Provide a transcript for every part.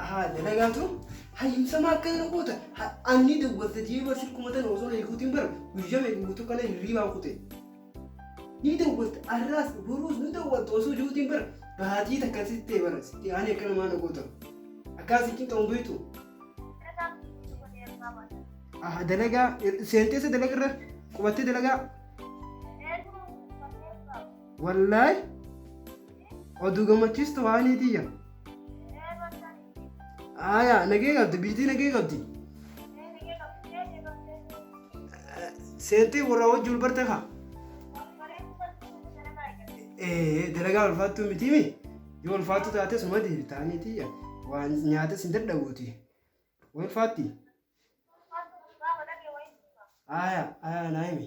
Ahaa dalagaatu hayyumsama akka kana goota anni dawwalte jee barsiif kumatan osoo na ilkuutiin bara guyyaa meeqa guutuu kana hirriibaan kute. Ni dawwalte arraas boruus ni dawwalte osoo jiruutiin bara baatii takka sitti ta'e bara sitti aanee akka namaa na goota. Akkaan si cinqa hin beektu. Ahaa dalagaa seenteessa dalagarra qubattee dalagaa. Wallaay oduu gammachiistu waanii tiyya. Aayaa nagee qabdi biitii nagee qabdi. Seentii warra wajji wal barte kaa. Ee dalagaa ulfaattuu miti mi? Yoo ulfaattuu taate suma deebitaanii tiyya. Waan nyaates hin dadhabuuti. Ulfaatti. Aayaa aayaa naa himi.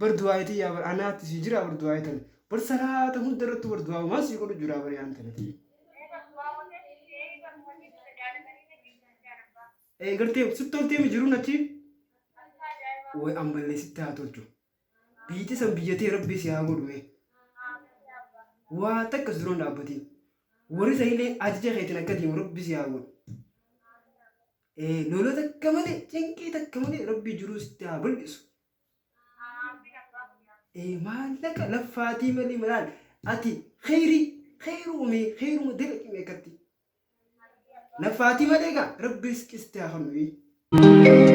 bar du'aayi tiyyaa bar anaatti sii jiraa bar du'aayi tana bar salaata hunda irrattu bar du'aawu maan sii godhu jiraa bar yaan tana tiyya ee gartee sitti toltee mi jiruun achi way ammallee sitti haa tolchu biiti san biyyatee rabbii si haa godhume waa takka si duran dhaabbatiin warri sanilee ajaja keetiin akka deemu rabbi si haa godhu Ee loloo takka malee cinqii takka malee rabbii jiruu sitti haa bal'isu. Aamiin abbaa kiyyaa. Ee maallaqa laffaatii malee malaan ati kheyrii kheyru umee kheyruma dalaqime akkatti. Aamiin abbaa. Laffaatii malee gaa rabbi risqii sitti haa kennu. ee.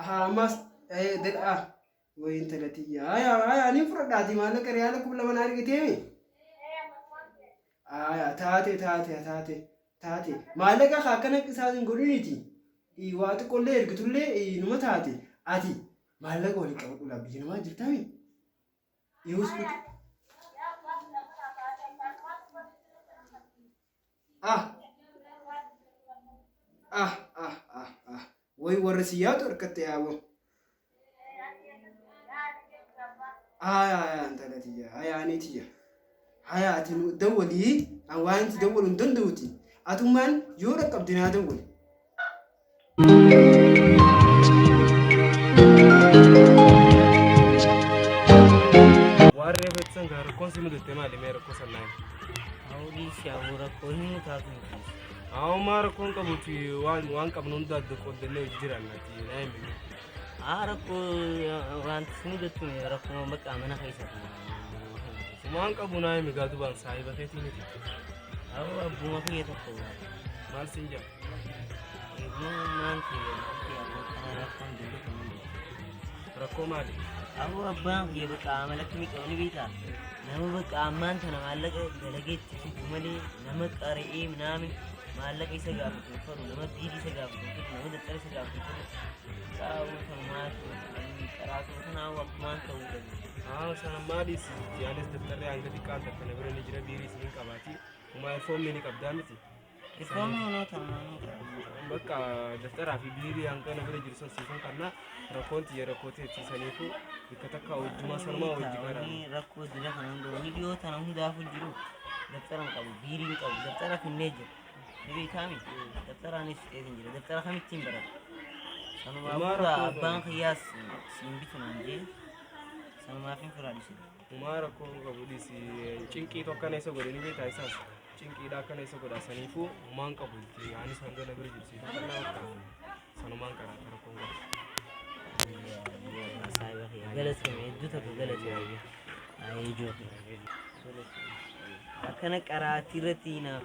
Ahaa ammaas ee dedhaa way intala tiyya haya haya anin fudhadhaati maallaqa riyaala kuma lama na argiteemi haya taate taate taate taate maallaqa kaa akkana qisaas hin godhiniti Ii, waa xiqqollee ergitullee ii, numa taate ati maallaqa waliin qabadhu laa biyya namaa jirtaami Use book. Ah. Ah, ah, ah, ah. Way warra si yaadu harkatti yaaboo. Haya haya intala tiyya haya ani tiyya haya ati nu dawwalii an waan itti dawwalu hin danda'uti atummaan yoo dhaqqabde naa dawwali Waarree beeksan gaa rakkoon si mudatte maali mee rakkoo sannaa Hawwii si hawwu rakkoo hin mutaatu hin dhiisu. Haawumaa rakkoon qabuti waan waan qabnu hunda adda qooddannee hojii jiraanna ati naa hin beekne. Haa rakkoo wanti si mudattu rakkoo bakka mana keessatti. Waan qabu naa himi gaa dubaan saahiba keetii miti. Hawwa abbuma kiyya tokko. Maal siin jedha? Rakkoo maali? Aboo abbaan kiyya bakka amalatti miidhamu ni beektaa? Nama bakka ammaan tana maallaqa dalageetti fidu malee nama qara'ee minaamin maallaqa isa gaafatu hin fedhu nama diidii isa gaafatu hin fedhu nama dattara isa gaafatu hin fedhu. Qaawwa kan maatu qaraatu kanaa akkumaan ta'uu qabu. Haa sana maaliis yaanis tattarree hanga xiqqaan takka na bira ni jira biirii isin hin qabaati. Kumaa foomii ni qabdaa miti. Dhibboonni inni taa'anii ta'anii. Bakka daftaraa fi biirii hanga na bira jiru san siifan kanna rakkoon tiyya rakkoo teetti saniifu bakka takka hojjumaa sanumaa hojji kanaan. Taa'anii rakkoo jira kana hunda wanni dhiyoo tana hundaafuu jiru daftara hin qabu biirii hin qabu daftara finnee jira. Ni beekaami daftaraanis fixee hin jira daftara kamittiin barata. Sanumaa Dhumaa booda rakkoo abbaan kiyyaas siin bitu naan jee sanumaaf hin firaadhisu. Umaa rakkoo hin qabu dhisi cinqii tokko kana isa godhe ni beektaa isaas cinqiidha akkana isa godha saniifuu umaan qabu itti anis hanga na bira jirsi sanumaan karaa rakkoo hin qabu. Saayiba kiyya galatoomi hedduu tokko galatoomi. Ijoo kiyya. Akkana qaraatti irratti hinaaf.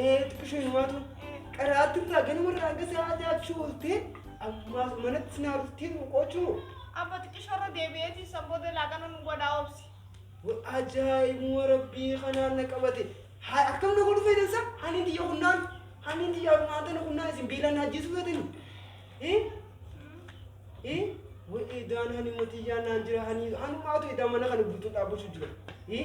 Ee xiqqishoo himaatu qaraatti irraa ganama irraa hanga sa'aa jaachuu ooltee ammaas manatti naa dhuftee boqochuu. Abba xiqqishoorra deebi'eetii san booda laaqana nu godhaa obsi. Ajaa'ibuma rabbii kanaan na qabate. Haa akkam na godhu fayyidan isaa ani diyya kunnaan ani diyya kunnaan tana kunnaan isin beelaan hajjiisuu feetanii. Eh? Eh? Wa'ee daan hani matiyyaan naan jira hani hanumaatu edaa mana kana guutuu dhaabbachuu jira. Eh?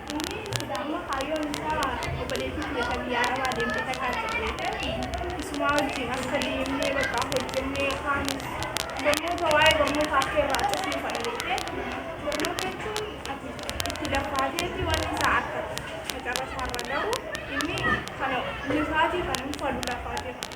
Inni silaa immoo kaayyoon isaa obboleettii tiyya ta biyya Arabaa deemte takka achi geete isumaa wajjiin akka deemnee bakka hojjannee kaanis barnoota waa'ee barnootaa kee irraa cufnuu kana jettee barnoota jechuun ati itti laffaateeti wanni isaa akka macarrasaa irra gahu inni kana nifaatii kana hin falu laffaateef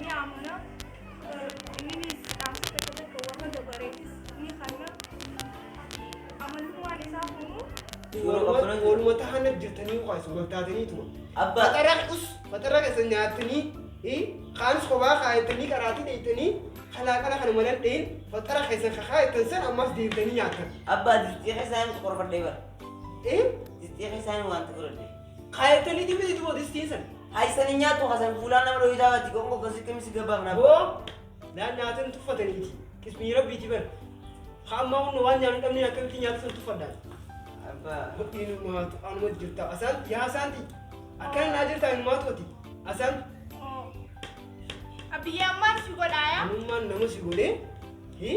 ni amana inninis dhaamsa tokko tokko warra dabareefis ni kanna amalummaan isaa kunuu Ooluma tahana jirtanii ukaas wal taatanii tuma. Abba. Maxara us maxara keessa nyaatanii kaanis kophaa kaayatanii qaraatii dheeytanii kalaa qala kana malan dheen maxara keessa kakaayatan san ammas deemtanii nyaatan. Abbaa disxii keessaan qorfadhee bara. Disxii keessaan wanta godhadhee. Kaayatanii ti miti tubo distiin san. Haysan hin nyaattu kasan fuulaan nama dhohitaa baatti gongo gosi qimsi gabbaa manaa. Boo naan nyaatan tuffataniiti. Qismii rabbiiti bar. Ka ammaa hunna waan nyaanu dhabneen akkamitti nyaatu san tuffadhaan. Abbaa. Hodhiin maatu anuma jirta asaanti yaa asaanti. Akkana naa jirta hin maatu ati. Asaanti. Abbiyyee ammaan si godhaaya. Anummaan nama si godhee. Hii.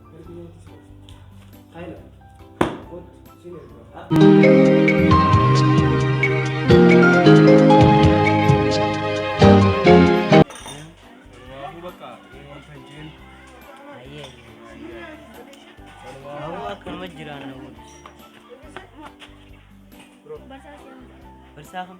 Akkuma jiraanna. Barsaa kam?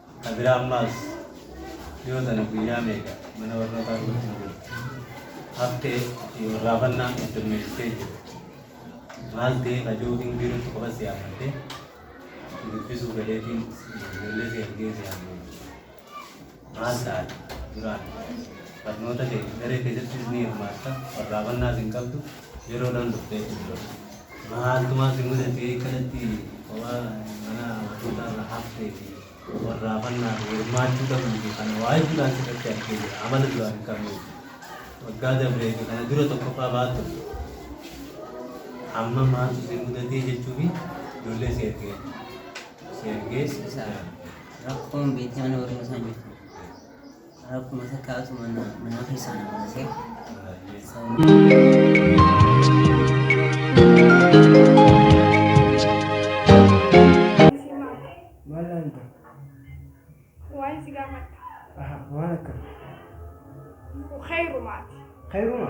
Ta biraa ammaas dhiyoo tana guyyaa meeqa mana barnootaa guutuu jirtu haftee fi warraafannaa heddummeessitee jirti. Maal ta'ee ka jiru hin jirutti qofa si yaammattee si dubbisuu galeetiin ijoollee si argee si haasofsiisa. Maal taate duraan barnoota kee daree keessattis ni hirmaatta warraafannaas hin qabdu. Yeroo dhan dhufte jechu duras. Maaltu maal si mudate akkanatti kophaa mana amantoota irraa haftee fi warraafannaa fi hirmaachuu dhabuu fi kana waa heddu dhaan sirratti argee jira amala duraan hin qabne waggaa dabree fi kana dura tokkoffaa baattu amma maaltu si mudatee jechuu fi ijoollee si ergee si ergee Rakkoon beektaan warra isaan jirtu. Rakkuma takkaatu mana manaa keessaa na baasee. Maal laanta? Waan si gaafadha. Aha, waan akkam? Khayrumaati. Kayruma?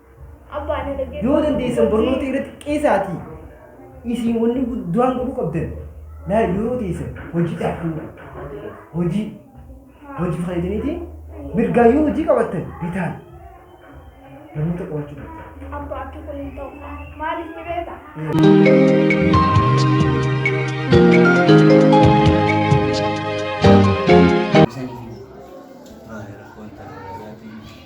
Abbaa na dhaggeeffadhu. Yoo dandeessan barnoota irratti qeesaatii isin wanni guddaan godhuu qabdan laa yeroo teessan hojii dhaabduu hojii hojii fayyadaniitiin mirgaa yoo hojii qabattan bitaan barnoota qabachuu qabdan. Abbaa akka kun hin ta'u. Maaliif ni beekta? Isaniif hin Maali rakkoon ta'a?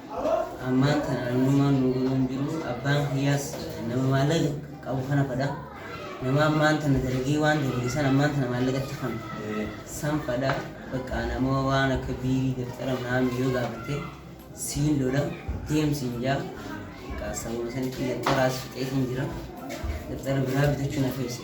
Ammaan tana namnummaan nuu galuu hin jiru. Abbaan kiyyaas nama maallaqa qabu kana fadha. Nama ammaan tana dalagee waan dalage san ammaan tana maallaqatti kan san fadha. Bakka nama waan akka biirii dabtara naami yoo gaafate siin lola deemsiin jaa. Bakka sababa sanitti dabtaraas fixeetiin jira. Dabtara biraa bitachuun hafeessa.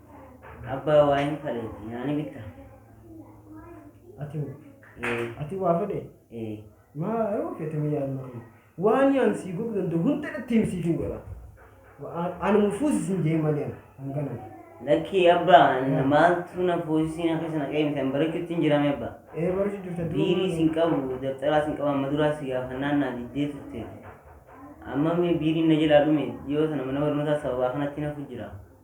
Abbaa waa hin faleeti naa ni bitta. Ati hoo? Ee. Ati waa fedhee? Ee. Maa yoo fete mee yaad marree. Waan yaan sii godhu danda'u hunda irratti himi siif hin godha. Waan anuma fuusi sin jee malee an hanganan. Lakkii abbaa anna maaltu na fuusisii na keessa na qeemte an barachuutti hin jirame abbaa. Ee barachuu jirta dura Biirii maal- sin qabu dabtaraa sin qabu amma duraa si gaafannaan naa diddee turte. Amma mee biiriin na jalaa dhume dhiyoo sana mana barnootaa sababaa kanatti nafu jira.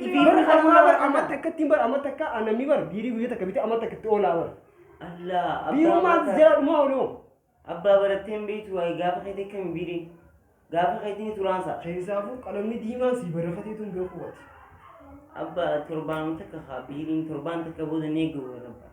Bar amma bar amma takka ittiin bar amma takka ah, namni bar biirii guyyaa takka bitee amma takka itti oolaa bar. Allaa abbaa Biirummaan mataa- jala dhumaa ooluu. abbaa barattee hin beektu waa'ee gaafa keetii akkami biirii gaafa keetii ni turaansa Keessaafuu qalamni diimaan sii barreeffatee tun beekuu wati. abbaa torbaan takka haa biiriin torbaan takka booda ni eegamu abbaa